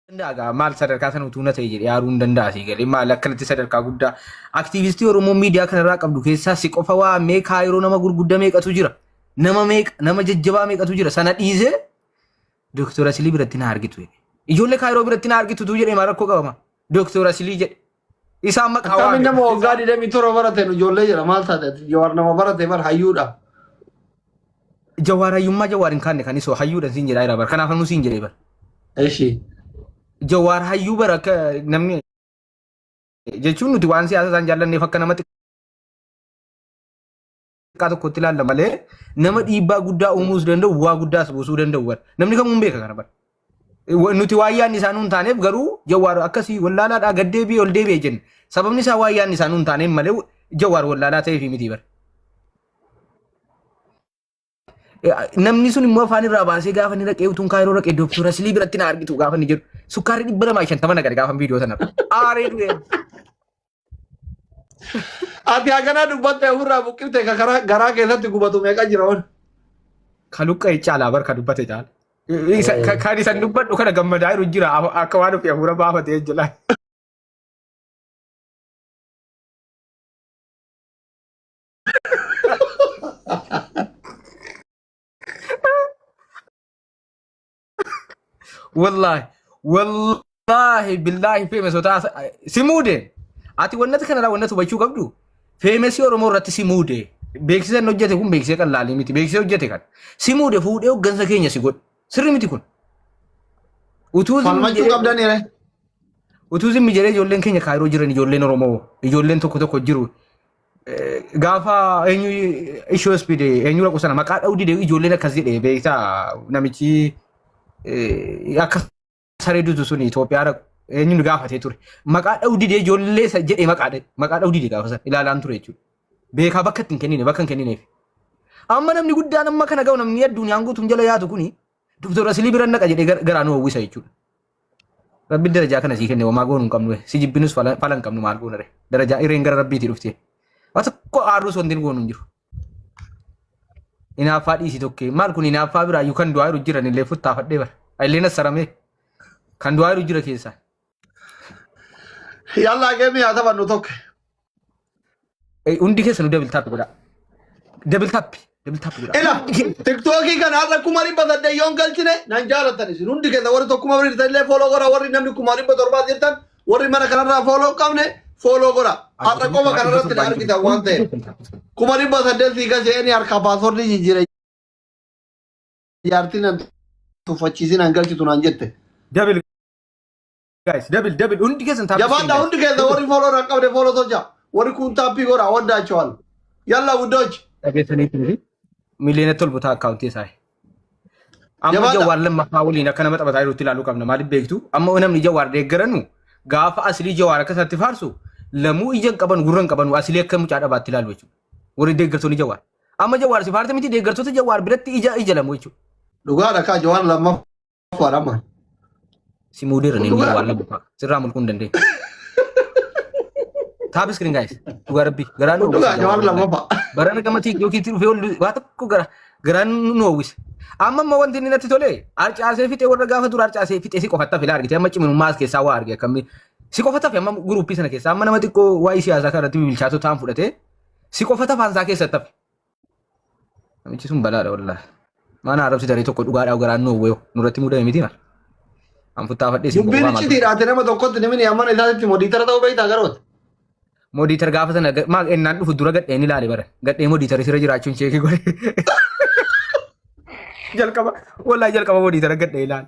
danda'a gaa maal sadarkaa sana utuu na ta'e jedhee aaruu hin danda'a sii galee maal akkanatti sadarkaa guddaa aktiivistii Oromoo miidiyaa kanarraa qabdu keessaa si qofa waa mee kaayiroo nama gurgudda meeqatu jira nama meeqa nama jajjabaa meeqatu jira sana dhiisee Dooktor Asilii biratti na argitu jedhe ijoollee kaayiroo biratti na argitu tuu jedhee maal rakkoo qabama Dooktor Asilii jedhe Isaan maqaa Akkamiin waame. nama waggaa 27 barate nu ijoollee jira maal taate ati jawaar nama barate bar hayyuudha. Jawaar hayyummaa jawaar hin kaanne kan isoo hayyuudhaan siin jedhaa jira bara. Kanaaf ammoo siin jedhee bara. Eshi. Jawaar hayyuu bara akka namni jechuun nuti waan siyaasa isaan jaallanneef akka namatti xiqqaa tokkotti ilaalla malee nama dhiibbaa guddaa uumuus danda'u bu'aa guddaas buusuu danda'u bara. Namni kamuu hin beeka kana bara. Wa- Nuti waan yaadni isaanuu hin taaneef garuu jawwaar akkasii wallaalaadhaa gad deebi'ee ol deebi'ee jenna. Sababni isaa waan yaadni isaanuu hin taaneef malee jawwaar wallaalaa ta'eef miti bara. namni sun immoo afaan irraa baasee gaafa inni dhaqee utuun kaayiroo dhaqee dooktora silii biratti na argitu gaafa inni jedhu sukkaarri dhibba lamaa shantama na gadi gaafa viidiyoo sana aaree du'e Ati haganaa dubbattee ofirraa buqqifte ka karaa garaa keessatti gubatu meeqa jira wan. Ka luqqa'e caalaa bar ka dubbate caala. Isa- ka- Kan isan dubbadhu kana gammadaa jiru jira Af- akka waan ofii hafuura baafatee jira. Wallaahi. Wallaahi billaahi feeme sotaa si muude. Ati wannati kanarraa wannati hubachuu qabdu feemesii Oromoo irratti si muude. Beeksisa inni hojjete kun beeksisa kan laalii miti. Beeksisa hojjete kan. Si muude fuudhee hoggansa keenya si godhe. Sirri miti kun. Utuu zimmi Falmachuu jedhee- qabdan iree. utuu zimmi jedhee ijoolleen keenya kaayiroo jiran ijoolleen Oromoo ijoolleen tokko tokko jiru Gaafa eenyu ishoo ispiide eenyu raqu sana maqaa dha'uu dide ijoolleen akkas jedhe beektaa namichi eh, akka saree dutu sun Itoophiyaa raqu eenyu nu gaafatee ture. Maqaa dha'uu dide ijoollee isa jedhe maqaa dha'e maqaa dha'uu dide gaafa sana ilaalaan ture jechuudha. Beekaa bakka itti hin kennine bakka hin kennineef. Amma namni guddaan amma kana ga'u namni addunyaan guutuun jala yaatu kuni Doktor Asilii bira naqa jedhee gar- garaa nu hawwisa jechuudha. Rabbiin darajaa kana sii kenne wamaa goonu hin qabnu si jibbinus fala fala hin qabnu maal goona re darajaa ireen gara rabbiitii dhufte waa tokko aarruus wanti goonu hin jiru inaaffaa dhiisii tokkee maal kun inaaffaa biraa iyyuu kan du'aa jiru jiran illee futtaafadhee bara illeen assaramee kan du'aa jiru jira keessaa Yallaa geemii haa taphannu tokko. Eh, Hundi keessanuu double tap godhaa. Double tap, double tap godhaa. Ila Hundi keessan. tiktookii kana har'a kuma dhibba saddeet yoon galchine nan jaalatan isin hundi keessa warri tokkuma warri jirtan illee fooloo godha warri namni kuma dhibba torbaa jirtan warri mana kanarraa fooloo hin qabne fooloo godha har'a qofa kanarratti na argitan waan ta'eef kuma dhibba saddeet sii galchee harkaa paaswordii jijjiire jaartiin nan tuffachiisin an galchitu naan jette Double Guys, double, double. Hundi keessan taphachuu Jabaadha hin hundi keessan warri fooloo na qabde fooloo socha. Warri kun taappii godha waddaachawan. Yalla guddochi. dhageessanii turre. Miliyoona tolba ta'a akkaawuntii isaa. Amma Jabaadha. jawaar lammaffaa waliin akka nama taphataa jirutti ilaaluu qabna. Maaliif beektu? Amma namni jawaar deeggaranu gaafa asilii jawaar akka isaatti faarsu lamuu ija hin qaban gurra hin qaban asilii akka mucaa dhabaatti ilaalu jechuudha. Warri deeggartoonni jawaar. Amma jawaar si faarta miti deeggartoota jawaar biratti ija ija lamuu jechuudha. Dhugaadha kaa jawaan lammaffaa. Afaan amma. Si muudirra ni Dhugaa. waan labu sirraa mulquu hin dandeenye. Taap iskiriin gaayis dhugaa rabbii garaa nu Dhugaa jawaar lammaffaa. Barana gama tiiktokiitti dhufee ol waa tokko gara garaan nu hawwise. Amma amma wanti inni natti tole harcaasee fixee warra gaafa dura harcaasee fixee si qofatta filaa argite amma ciminummaa as keessaa waa arge akkamni si qofatta fi amma guruuppii sana keessaa amma nama xiqqoo waa'ee siyaasaa kanarratti bilchaatoo ta'an fudhatee si qofatta faansaa keessatti hafe. Namichi sun balaadha wallaahi. Mana arrabsi daree tokko dhugaadhaa garaan nu hawweeyo nurratti mudame miti mara. An futtaafadhee sin Dubbiin gowwaa maal iccitii dhaate nama tokkotti namni ammana isaatitti modiitara ta'uu beektaa garoota. modiitar gaafa sana ga- maal ennaan dhufu dura gadheen ilaale bara. Gadhee modiitari sirra jiraachuun cheekii godhe. Jalqaba wallaahi jalqaba modiitara gadhee ilaale.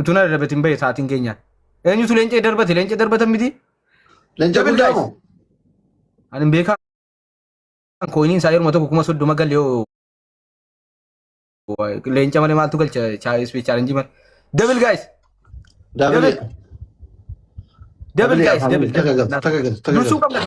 Utuu na darbatin bahe sa'aatiin keenyaan. Eenyutu leencee darbate? Leencee darbatan miti? Leenca Double guddaa dice. moo? Ani hin beekaa. Kooyiniin isaa yeruma tokko kuma soddoma galee hoo. Leenca malee maaltu galcha ispeech chaalenjii malee. Double guys. Double. Double. Double Double guys. afaan Double. Takka galtu, takka galtu, takka Dursuu galtu. qabna.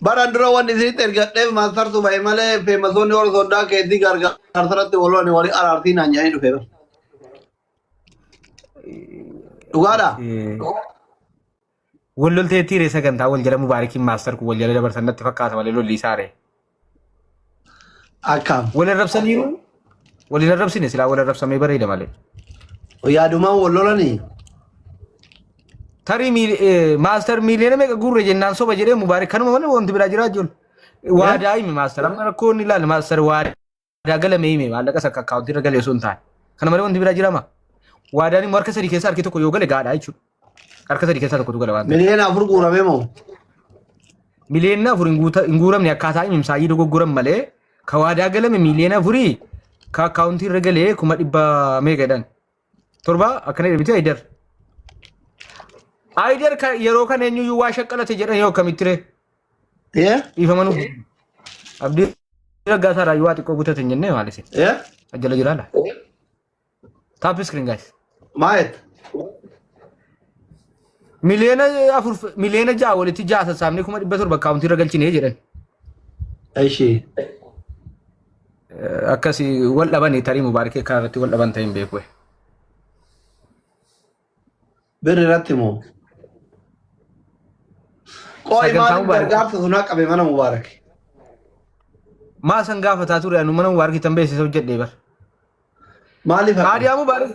Baran dura wanni isinitti ergadheef maastartu bahe malee feemasoonni warra soddaa keetii gargaarsa irratti wal lolani walii araartii naan jedhanii dhufe bar. Dhugaadha. Wal lolteettii ree sagantaa wal jala mubaarikiin maastar kun wal jala dabarsan natti fakkaata malee lolli isaare. Akkaam. Wal arrabsaniiru. Wal hin arrabsine silaa wal arrabsamee bareeda malee. Yaadumaan wal lolanii. Tarii miil- eh, maastar miiliyoona meeqa guurre jennaan soba jedhee mubaarik kanuma malee wanti biraa jiraa jiru. Waadaa himi maastar amma rakkoo inni ilaali maastar waadaa galame himi maallaqa isa akka akkaawuntii irra galee osoo hin taane. Kana malee wanti biraa jirama. Waadaan immoo harka sadii keessaa harki tokko yoo gale gaadhaa jechuudha. Harka sadii keessaa tokkotu gala waan ta'eef. Miliyoona afur guuramee moo? Miliyoona afur hin guuta- hin guuramne akkaataa imimsaayyii dogoggoran malee ka waadaa galame miliyoona afurii ka akkaawuntii irra galee kuma dhibba meeqadhan. Torba akkana jedhamti Ayidar. Ayidar ka- yeroo kana eenyuyyuu waa shaqqalate jedhan yoo akkamitti ree? Ee? Dhiifama nuuf. Abdii raggaasaa irraa waa xiqqoo guutate hin jennee maalise. Ee? Ajjala jiraala. Tap screen guys. Maayet. Miliyoona afur miliyoona ja'a walitti ja'a sassaabnee kuma dhibba torba akkaawuntii irra galchinee jedhan. Ishee. Eh, Akkasii wal dhabanii tarii mubaarikee kanarratti wal dhaban ta'e hin beeku. Birri irratti moo? Qoy Sagantaa maaliif Mubaarak. gargaarsa sunaa qabe mana Mubaarak? Maa san gaafataa ture anu mana Mubaarak tan beeksisa hojjedhee bar. Maaliif haqa? Kaadiyaa Mubaarak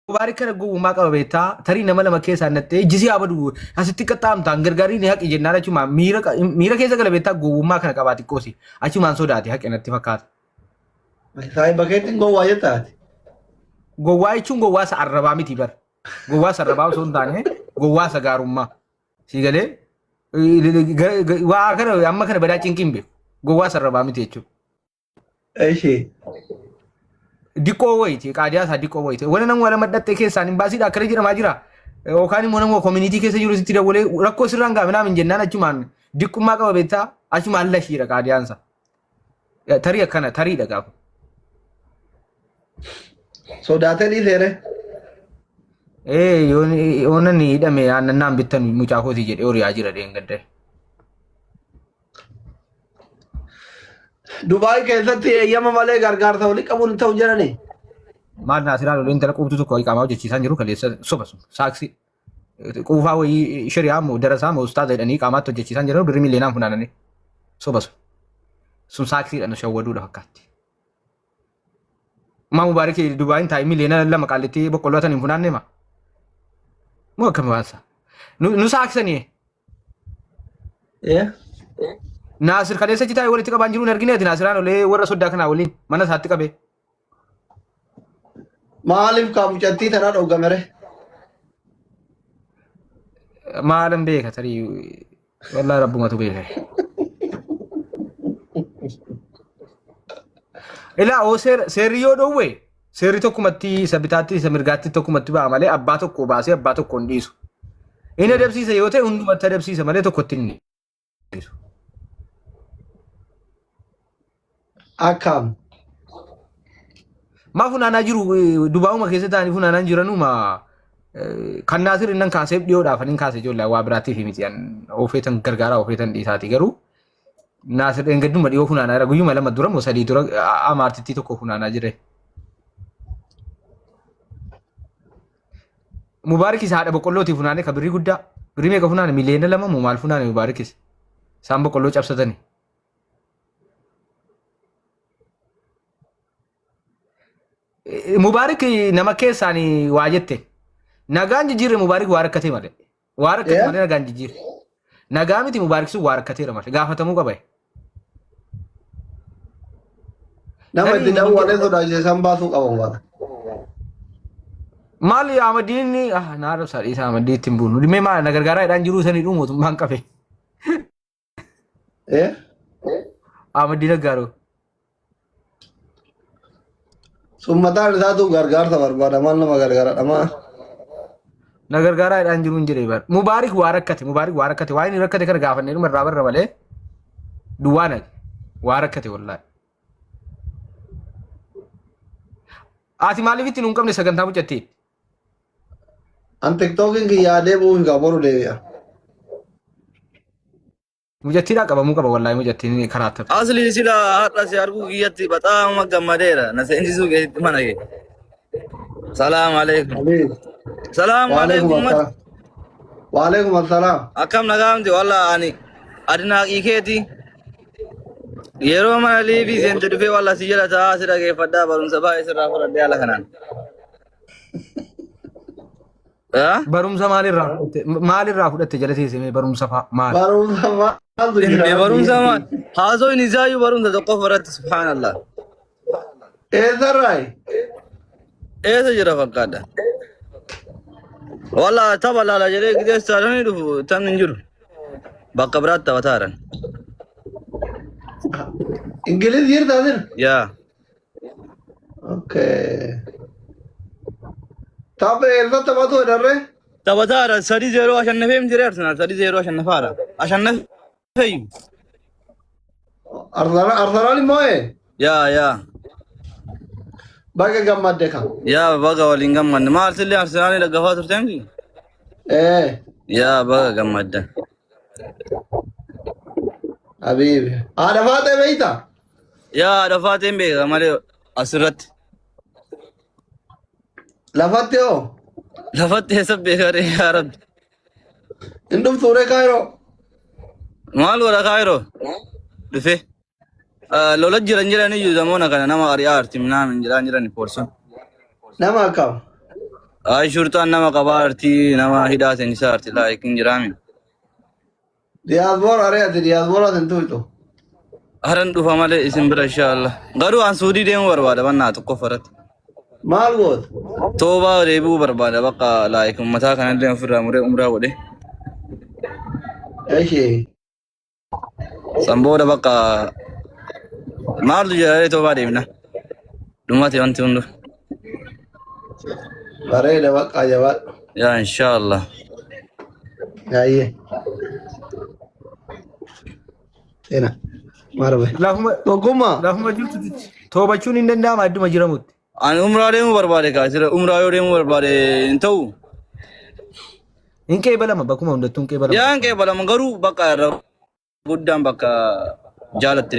Mubaarak kana gowwummaa qaba beektaa tarii nama lama keessaa nattee jisii haa badu asitti qaxxaamtaan gargaarii ni haqi jennaan achumaan miira qa- miira keessa gala beektaa gowwummaa kana qabaa xiqqoosi achumaan sodaate haqe natti fakkaata. Saahiba keetiin gowwaa jetta ati. Gowwaa jechuun gowwaa isa arrabaa miti bar. Gowwaa isa arrabaa osoo hin taane gowwaa isa gaarummaa. Sii galee waa kana amma kana badaa cinqiin beeku. Gowwaa isa arrabaa miti jechuudha. Ishee. Diqqoo wayiti qaadiyaa isaa diqqoo wayiti. Wani nama wala madhaxxee keessaan hin baasiidha akkana jedhamaa jira. Yookaan immoo nama koominiitii keessa jiru sitti dawwalee rakkoo sirraan gaafa naamin jennaan achumaan diqqummaa qaba beektaa achumaan lashiidha qaadiyaan isaa. Tarii akkana tarii dhagaa kun. Sodaatanii seere. Ee yoona ni hidhame aannannaan bittan mucaa kootii jedhee horiyaa jira dheengadde. Dubaay keessatti eeyyama malee gargaarsa walii qabuun hin ta'u jedhanii. Maal naasiraa lolee intala quubtu tokko qaama hojjechiisaan jiru kaleessa soba sun saaksii. Quufaa wayii shari'aa moo darasaa moo ustaaza jedhanii qaamaatti hojjechiisaan jedhanii birrii miiliyoonaan funaananii soba sun. Sun saaksiidhaan shawwaduudha fakkaatti. Maa Mubaarik Dubaayin taa'e miiliyoona lama qaallitti boqqolloo tan hin funaanne maa? Moo akkami waan isaa? Nu nu saaksanii Yeah. Naasir kaleessa citaa walitti qabaan jiruun argine ati Naasiraan olee warra soddaa kanaa waliin mana isaatti qabee. Maaliif kaa mucattii tana dhoggamere? Maalan beeka tarii wallaa rabbumatu beeka. Ilaa oo seer- seerri yoo dhoowwe seerri tokkumatti isa bitaatti isa mirgaatti tokkumatti ba'a malee abbaa tokko baasee abbaa tokko hin dhiisu. Inni adabsiisa yoo ta'e hundumatti adabsiisa malee tokkotti hin dhiisu. Akkaam. Maa funaanaa jiru dubaa'uma keessa ta'anii funaanaa hin jiranuu maa kan naasir innan kaaseef dhiyoodhaaf anin kaase ijoollee waa biraatiif miti an oofeetan gargaaraa oofeetan dhiisaati garuu naasir dheengadduma dhiyoo funaanaa jira guyyuma lama dura moo sadii dura amaartittii tokko funaanaa jire. Mubaarikis haadha boqqollootii funaanee kan birrii guddaa birrii meeqa funaane miliyoona lama moo maal funaane Mubaarikis isaan boqqolloo cabsatani. Mubaarik nama keessaan waa jette nagaan jijjiirre Mubaarik waa rakkatee malee Waa rakkate Eh? malee nagaa hin jijjiirre. Nagaa miti Mubaarik sun waa rakkateera malee gaafatamuu qaba. Nama Tarii itti namni dawwalee jedhu- sodaachise san baasuu qaba waan. Maal Ahmadiin inni ah naa rabsaa dhiisaa Ahmadii ittiin buunu. Dhimmee maal na gargaaraa jedhaan jiruu sanii dhuu mootummaan qabe. Eh? Ahmad Diina Gaaroo. Sun mataan isaatu gargaarsa barbaada maal nama gargaara dhamaa. Na gargaaraa jedhaan jiru hin jedhee bara. Mubaarik waa rakkate Mubaarik waa rakkate waa inni rakkate kana gaafannee dhuma irraa barra malee duwwaa nage waa rakkate wallaahi. Ati maaliif itti nu hin qabne sagantaa mucattiin? An tiktookiin kiyyaa deebi'uu hin qabu boru deebi'a. Mujattiidhaa qabamuu qaba wallaahi mujattiin karaa taphatu. Asli sila har'a si arguu kiyyatti baxaama gammadeera. Na seensisuu keessatti mana kee. Salaam alaikum. Aliif. Salaam Waaleekum alaikum. assalam. Waaleekum assalam. Akkam nagaamti walla ani adinaaqii keeti. Yeroo mana liibii seente dhufee walla si jala taa'aa si dhageeffadhaa barumsa baay'ee sirraa fudhadhee haala kanaan. Ah? Barumsa maalirraa fudhatte? Maalirraa fudhatte jalasiise mee barumsa faa maal? Barumsa maaltu jira? Inni barumsa maal? Haasawni isaayyuu barumsa tokkoof irratti subhaanallah. Eessarraayi? Eessa jira fakkaadha? Walla tapha laala jedhee gideessaa dhanii dhufu tan hin jiru. Bakka biraatti taphataa jiran. Ingiliz jirtaa jira? Yaa. Okay. Tapha eessa taphatu darre? Taphataadha sadii zeeroo ashannafee hin jiree Arsenaal sadii zeeroo ashannafaadha. Ashannafeeyyu. Arsenal Arsenal immoo ee? Yaa yaa Baga gammadde kan. yaa baga waliin gammadde maal sillee Arsenaalii dhaggafaa turte miti? Ee. Yaa baga gammadde. Habiibi. Haadha faatee beekta? Yaa haadha faateen beeka malee asirratti. Lafatti hoo? Lafatti eessa beeka ree yaa rabbi. Hin dhuftuu ree kaayiroo? Maal godha kaayiroo? Dhufee. Lola jiran jiran iyyuu zamoona kana nama ari'aa arti minaan hin jiraan jiran poolisoon. Nama akkam? Ayi shurtaan nama qabaa arti nama hidhaa seensisaa arti laayikin jiraami. Diyaasboora aree ati diyaasbooraa sin tuutu. Haran dhufa malee isin bira insha Allah. Garuu an Suudii deemuu barbaada mannaa tokko faratti. Maal gootu? Toobaa deebi'uu barbaada bakka laayik ummataa kanallee ofirraa muree umraa godhe. Eshee. San booda bakka maaltu jira toobaa deemna. Dhumate wanti hundu. Bareeda baqqaa jabaadhu. yaa inshaallah Yaayyee. Ena. Marbe. Lafuma Tokkummaa. lafuma jirtutti toobachuun hin danda'ama adduma jiramutti. ani umraa deemuu barbaade kaa jira umraa yoo deemuu barbaade hin ta'u Hin qeebalama bakkuma hundattuu hin qeebalama. yaa hin qeebalama garuu bakka irra guddaan bakka jaalatti deemu